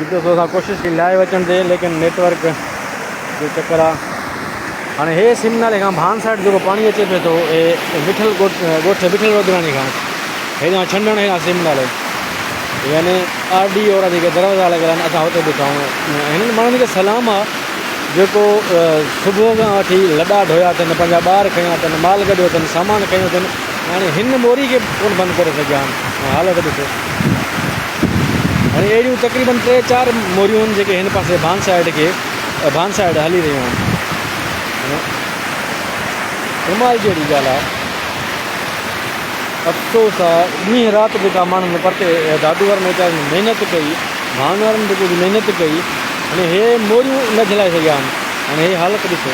جتي سو اسان ڪوشش ڪئي لائيو اچڻ جي ليڪن نيٽ ورڪ جو چڪر آ هاڻي هي سم نالي کان ڀان سائيڊ جيڪو پاڻي اچي پي ٿو اي وٺل ڳوٺ وٺل ودراڻي کان هيڏان ڇنڊڻ هي سم نالي يعني آر ڊي اورا جيڪي دروازا لڳل آهن اسان هتي بيٺا آهيون هنن ماڻهن کي سلام آ جيڪو صبح کان وٺي لڏا ڍويا اٿن پنهنجا ٻار کيا اٿن مال گڏيو اٿن سامان کيو اٿن يعني هن موري کي ڪون بند ڪري سگهيا آهن حالت ڏسو هاڻي اهڙيون تقريبن ٽي چار موريون آهن جيڪي هن پاسي ڀان سائيڊ کي ڀان سائيڊ هلي رهيون آهن ڪمال جهڙي ڳالهه آهي افسوس آهي ڏينهن رات جيڪا ماڻهن پرتي دادو وارن ويچارن محنت ڪئي ڀان وارن به ڪجهه محنت ڪئي هاڻي هي موريون نه جهلائي سگهيا آهن هاڻي هي حالت ڏسو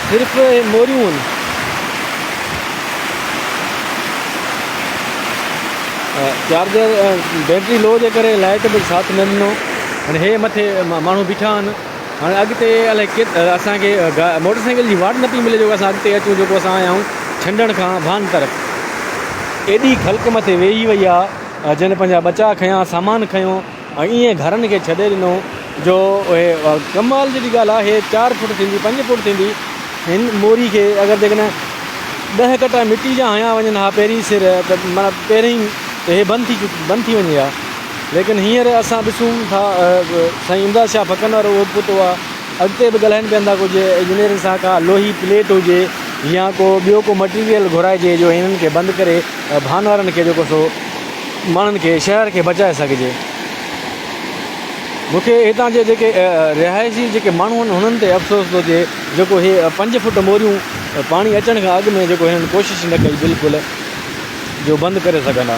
صرف موريون آهن چارجر بيٽري لو جي ڪري لائٽ به ساٿ نه ڏنو هن هي مٿي ماڻهو بيٺا آهن هاڻي اڳتي الائي ڪيتري اسانکي موٽر سائيڪل جي واٽ نه پئي ملي جو اسان اڳتي اچون جيڪو اسان آيا آهيون ڇنڊڻ کان ڀان طرف ايڏي خلق مٿي ويهي وئي آهي جنهن پنهنجا ٻچا کنيا سامان کنيو ۽ ائين گهرن کي ڇڏي ڏنو جو اهي ڪمال جي ڳالهه آهي چار فوٽ ٿيندي پنج فوٽ ٿيندي هن موري کي اگر جيڪڏهن ڏهه ڪٽا مٽي جا هنيا وڃن ها پهرين سر ته معنيٰ پهرين ته هي بند ٿي بند ٿي وڃي ها ليڪن هينئر اسان ڏسون ٿا سائين امداد شاهه ڦڪن وارو اهو پٽ هئا اڳتي به ڳالهائن پيا ٿا ڪو جي انجنيئرن سان ڪا لوهي پليٽ هجي يا ڪو ٻيو ڪو مٽيريل گهرائجي جو هنن کي بند ڪري ڀان وارن کي جيڪو سو ماڻهن کي شهر کي بچائي سگهجي. مون کي هتان جي جيڪي رهائشي جيڪي ماڻهو آهن هنن تي افسوس ٿو ٿئي جيڪو هي پنج فٽ موريون پاڻي اچڻ کان اڳ ۾ جيڪو هنن ڪوشش نه ڪئي بلڪل جو بند ڪري سگهندا.